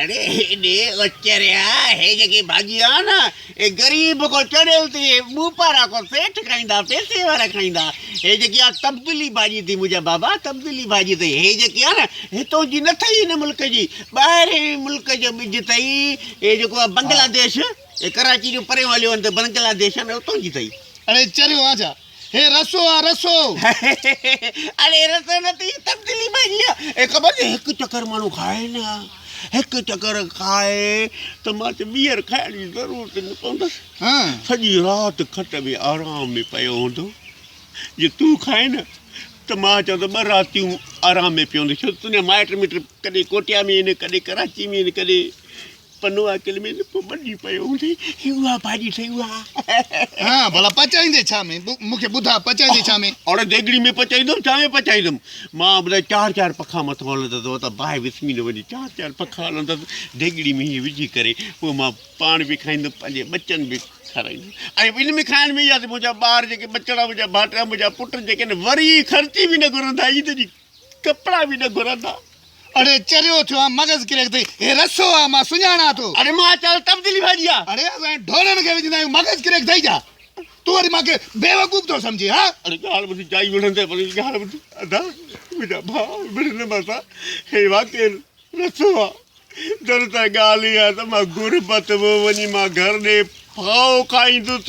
اڙي هيڏي اچريا هي جيڪي ڀاڄي آ نه هي غريب ڪو چڙيل ٿي هي ٻوپارا ڪو سيٺ کائيندا پيسي وارا کائيندا هي جيڪي آ تبديلي ڀاڄي ٿي منهنجا بابا تبديلي ڀاڄي ٿئي هي جيڪي آ نه هتو جي نه ٿئي هن ملڪ جي ٻاهرين ملڪ جو ٻج ٿئي هي جيڪو آ بنگلاديش هي ڪراچي جو پريون هليو وڃ ته بنگلاديش آ نه هتو جي ٿئي. اڙي چريو آ ڇا هي رسو آ رسو. اڙي رسو نه ٿي تبديلي ماهي آ اي خبر ٿئي هڪ چڪر ماڻهو کائي نه هڪ چڪر کائي ته مان چ ٻيهر کائڻ جي ضرورت نه پوندس سڄي رات کٽ ۾ آرام ۾ پيو هوندو جي تون کائي نه ته مان چ ته ٻه راتيون آرام ۾ پيو هوندس ڇو ته تنهنجا مائٽ مٽ ڪڏهن ڪوٽيا ۾ آهن ڪڏهن ڪراچي ۾ آهن ڪڏهن پنو عاقل ۾ نه پو ٻڏي پيو هوندي هي اها ڀاڄي ٺهي اها ها ڀلا پچائيندي ڇا ۾ مون کي ٻڌاء پچائيندي ڇا ۾ اوڙ ديڳڙي ۾ پچائيندم ڇا ۾ پچائيندم مان ٻڌاء چار چار پکا مٿو هلندس هو ته باهه وسمي نه وڃي چار چار پکا هلندس ديڳڙي ۾ هيئن وجهي ڪري پو مان پاڻ به کائيندم پنهنجي ٻچن به کارائيندم ۽ ان ۾ کائڻ ۾ اها ته منهنجا ٻار جيڪي ٻچڙا منهنجا ڀائٽيا منهنجا پٽ جيڪي آهن وري خرچي به نه گهرندا عيد جي ڪپڙا به نه گهرندا. اڙي چريو ٿيو آن مغز ڪريڪ ٿئي. هي رسو آ مان سڃاڻان ٿو. اڙي مان چل تبديلي ڀڄي آ. اڙي اسان ڍورن کي وجهندا آهيون مغز ڪريڪ ٿئي جا. تون وري مان کي بيوقوف ٿو سمجهين ها. اڙي ڳالهه ٻڌ جائي وڙهن تي پنهنجي ڳالهه ٻڌ. ادا منهنجا ڀاء وڙهن نه مان سان هي واقعي رسو آ در ته ڳالهه هي آ ته مان غربت ۾ وڃي مان گهر ڏي ڦاهو کائيندس.